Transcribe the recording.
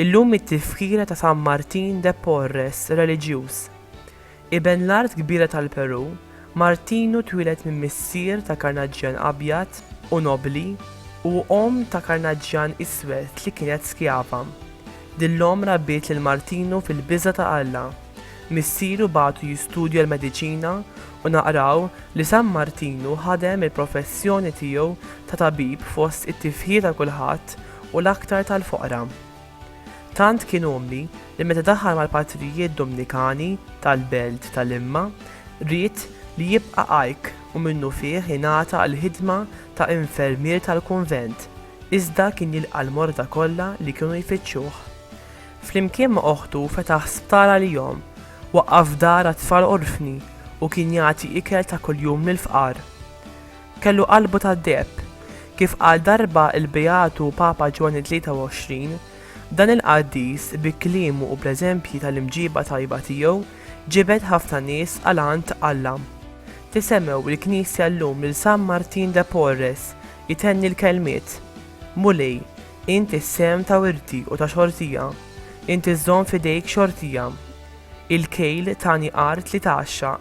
Illum it-tifkira ta' San Martin de Porres, reliġjuż. Iben l-art kbira tal-Perù, Martinu twieled minn missier ta' karnaġġjan abjad u nobbli u omm ta' karnaġġjan iswed li kienet skjava. Din l-omm rabbiet lil Martinu fil-biża' ta' Alla. Missieru bagħtu jistudja l-mediċina u naqraw li San Martinu ħadem il-professjoni tiegħu ta' tabib fost it-tifħir ta' kulħadd u l-aktar tal-foqra. Tant kien umli li meta daħal mal-patrijiet Domnikani tal-belt ta' Limma, ried li jibqa' għajk u minnufih ingħata għall-ħidma ta' infermier tal-kunvent, iżda kien jilqa' l-morda kollha li kienu jfittxuh. Flimkien ma' oħtu fetaħ sptar għalihom, waqqaf dar għat-tfal orfni u kien jagħti ikel ta' kuljum lill-fqar. Kellu qalbu tad-deheb. Kif qal darba l-Beatu Papa Ġwanni 23, dan il-qaddis bi kliemu u bl-eżempji tal-imġiba tajba tiegħu ġibed ħafna nies għal għand Alla. Tisemgħu l-Knisja llum lil San Martin de Porres jtenni l-kelmiet, Mulej, int is-sehem ta' wirti u ta' xortija. Int iżżomm f'idejk xortija. Il-kejl tani art li tgħaxxaq.